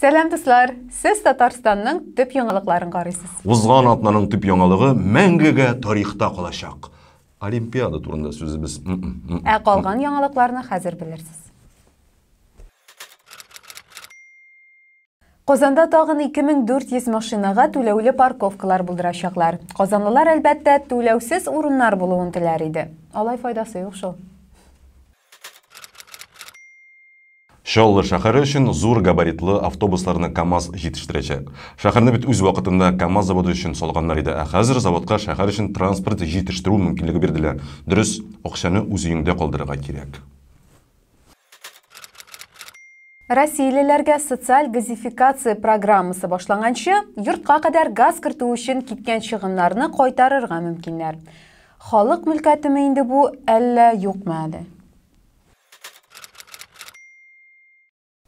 Сәлам дуслар! Сез Татарстанның төп яңалыкларын карыйсыз. Узган атнаның төп яңалыгы мәңгегә тарихта калачак. Олимпиада турында сүзебез. Ә калган яңалыкларны хәзер белерсез. Казанда тагын 2400 машинага түләүле парковкалар булдырачаклар. Казанлылар, әлбәттә, түләүсез урыннар булуын теләр иде. Алай файдасы юк шул. Чаллы шәһәре өчен зур габаритлы автобусларны КАМАЗ җитештерәчәк. Шәһәрне бит үз вакытында КАМАЗ заводы өчен салганнар иде, ә хәзер заводка шәһәр өчен транспорт җитештерү мөмкинлеге бирделәр. Дөрес, акчаны үз өеңдә калдырырга кирәк. Россиялеләргә социаль газификация программасы башланганчы, йортка кадәр газ кертү өчен киткән чыгымнарны кайтарырга мөмкиннәр. Халык мөлкәтеме инде бу, әллә юкмы әле?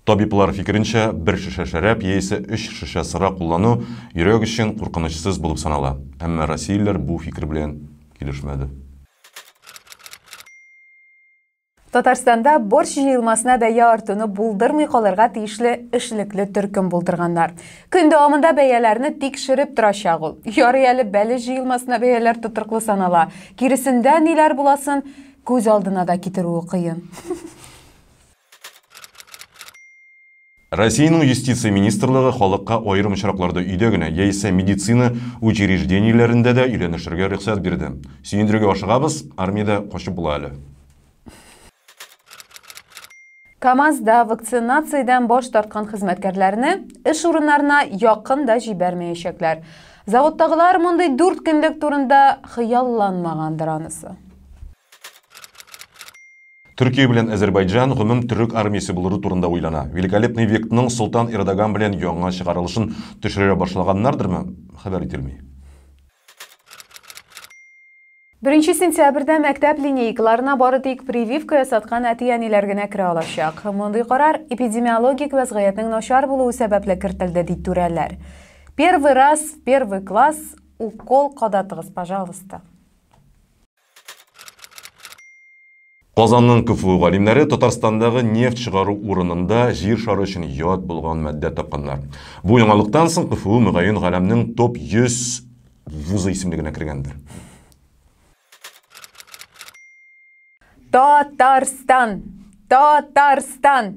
Табиблар фикеренчә, бер шешә шәраб яисә өч шешә сыра куллану йөрәк өчен куркынычсыз булып санала. Әмма россиялеләр бу фикер белән килешмәде. Татарстанда борщ җыелмасына бәя артуны булдырмый калырга тиешле эшлекле төркем булдырганнар. Көн дәвамында бәяләрне тикшереп торачак ул. Ярый әле бәлеш җыелмасына бәяләр тотрыклы санала. Киресендә ниләр буласын күз алдына да китерүе кыен. Россиянең юстиция министрлыгы халыкка аерым очракларда өйдә генә яисә медицина учреждениеләрендә дә өйләнешергә рөхсәт бирде. Сөендерергә ашыгабыз, армиядә качып була әле. КАМАЗда вакцинациядән баш тарткан хезмәткәрләрне эш урыннарына якын да җибәрмәячәкләр. Заводтагылар мондый дүрт көнлек турында хыялланмагандыр анысы. Төркия белән Азербайджан гомум төрек армиясе булыру турында уйлана. Великолепный вектның Солтан Эрдоган белән яңа чыгарылышын төшерә башлаганнардырмы, хәбәр ителми. Беренче сентябрьдә мәктәп линейкаларына бары тик прививка ясаткан әти-әниләр генә керә алачак. Мондый карар эпидемиологик вәзгыятьнең начар булуы сәбәпле кертелде, ди түрәләр. Первый раз в первый класс укол кадатыгыз, пожалуйста. Казанның КФУ галимнәре Татарстандагы нефть чыгару урынында Җир шары өчен ят булган матдә тапканнар. Бу яңалыктан соң КФУ, мөгаен, галәмнең топ 100 вузы исемлегенә кергәндер. Та-тар-стан! Та-тар-стан!